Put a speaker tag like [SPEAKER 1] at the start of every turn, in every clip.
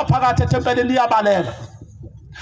[SPEAKER 1] phakathi ethempelini iyabaleka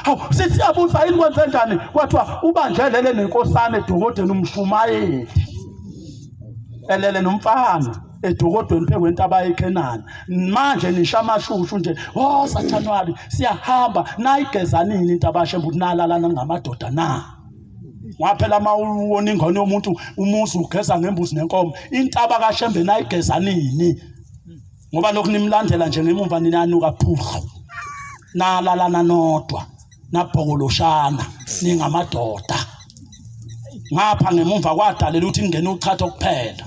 [SPEAKER 1] hawu sisiyabuza yini kwenze njani kwathiwa ubanjelele nenkosana edokodeni umshumayeli elele nomfana edokodweni phezu kwentaba yeKhenani manje nisha amashushu nje oh sathanabi siyahamba nayigezanini intabashe mbuti nalalana ngamadoda na waphela uma uwona ingane yomuntu umuzi ugeza ngembuzi nenkomo intaba kashembe nayigezanini ngoba lokhu nimlandela nje ngemumva ninanuka phuhlu nalalana nodwa nabhokoloshana ningamadoda ngapha ngemumva kwadalela ukuthi kungena uchatha kuphela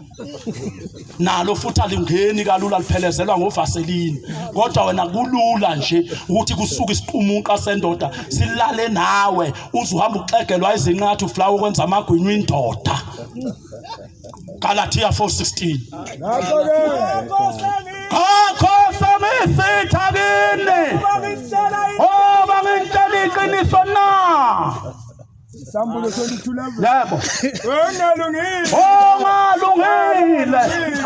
[SPEAKER 1] nalo futhi alingeni kalula liphelezelwa ngovaselini kodwa wena kulula nje ukuthi kusuke isiqumunqa sendoda silale nawe uzuhamba uxegelwa izinqathu flower ukwenza amagwinywa indoda Galatia 4:16 Ngakho semisitha kini oba ngintshela iqiniso na Sambulo
[SPEAKER 2] 22 level Yebo
[SPEAKER 1] Ongalungile
[SPEAKER 2] Ongalungile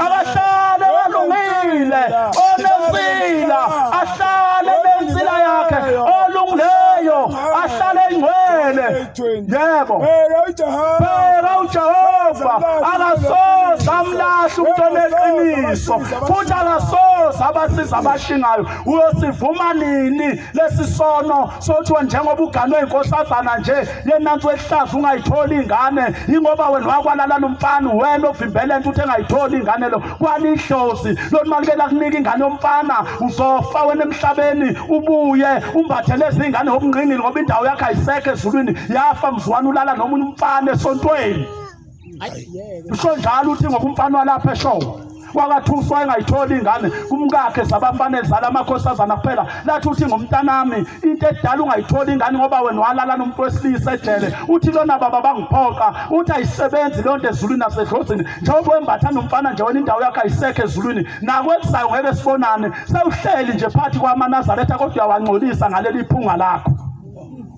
[SPEAKER 2] akahlale
[SPEAKER 1] kalungile onesila ahlale nensila yakhe olungileyo ahlale engcwele Yebo. Bheka uJehova akasoze amlahle umuntu oneqiniso futhi akasoze abasiza abashingayo. Uyosivuma nini lesi sono sothiwa njengoba uganwe inkosazana nje yenansi wehlaza ungayitholi ingane ingoba wena wakwalala lomfana wena ovimbele into uthi engayitholi ingane lo kwalidlozi lona mali ke lakunika ingane yomfana uzofa wena emhlabeni ubuye umbathe lezi ingane obungqingili ngoba indawo yakhe ayisekho ezulwini yafa mzwana ulala noma umfana esontweni usho njalo uthi ngoba umfana walapha eshowo wakathuswa engayitholi ingane kumkakhe sabafanele zala amakhosazana kuphela lathi uthi ngomntanami into edala ungayitholi ingane ngoba wena walala nomuntu wesilisa ejele uthi lona baba bangiphoqa uthi ayisebenzi leyo nto ezulwini nasedlozini njengoba wembatha nomfana nje wena indawo yakho ayisekho ezulwini nakwezayo ngeke sibonane sewuhleli nje phakathi kwamanazaretha kodwa uyawangcolisa ngaleli phunga lakho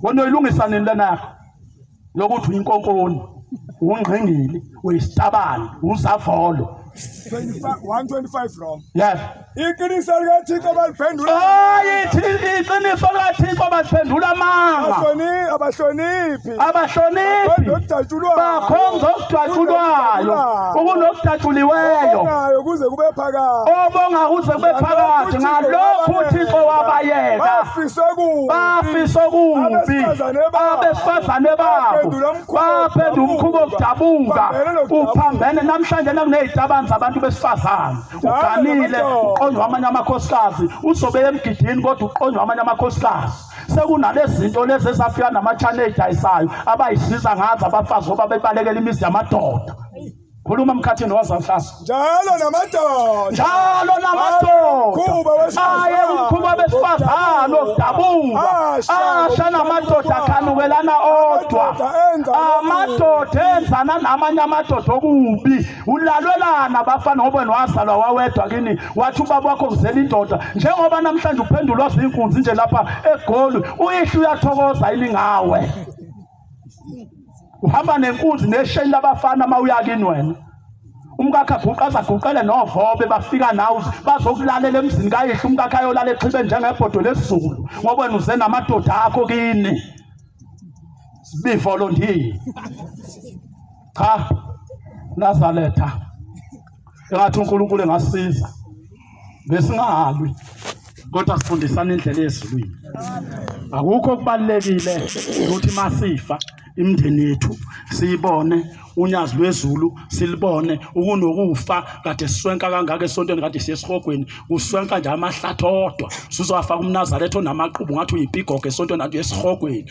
[SPEAKER 1] wena uyilungisa nini lena yakho lokuthi uyinkonkoni ungqingili uyisitabani uzavolo 125
[SPEAKER 2] wrong yes
[SPEAKER 1] iqiniso
[SPEAKER 2] likathixo baliphendula hayi
[SPEAKER 1] iqiniso likathixo baliphendula amanga abahloniphi abahloniphi bakhonza okudatshulwayo ukunokudatshuliweyo obongayo kuze
[SPEAKER 2] kube phakade obonga kuze kube
[SPEAKER 1] phakade ngalokhu uthixo wabayeka bafisa okubi abesifazane babo baphendula umkhuba wokudabuka uphambene namhlanje nakuney'tabani zabantu besifazane uganile uqonywa amanye amakhosikazi uzobe emgidini kodwa uqonywa amanye amakhosikazi sekunalezi zinto lezi ezafika namathane eyidayisayo abayisiza ngazo abafazi oba bebalekela imizi yamadoda khuluma mkhathini wazawuhlasa njalo namadoda
[SPEAKER 2] njalo namadoda
[SPEAKER 1] aye umkhuba besifazane okudabuka asha namadoda akhanukelana odwa amadoda enzana namanye amadoda okubi ulalwelana bafana ngoba wazalwa wawedwa kini wathi ubaba wakho kuzela indoda njengoba namhlanje uphendulwa zinkunzi nje lapha egoli uyihla uyathokoza yini ngawe uhamba nenkunzi nesheni labafana uma uya kini wena umkakhe aguqe azaguqele novobe bafika nawe bazokulalela emzini kayihlo umkakhe ayolala exhibe njengebhodo lesizulu ngoba wena uze namadoda akho kini sibivolontiye cha nazaletha engathi uNkulunkulu engasiza besingahalwi kodwa sifundisana indlela yezulwini akukho okubalekile ukuthi masifa imndeni yethu siyibone unyazi lwezulu silibone ukunokufa kade siswenka kangaka esontweni kade siyesihogweni kuswenka nje amahlathi odwa sizowafaka umnazaretha onamaqubu ngathi uyipigogo esontweni kanti uyesihogweni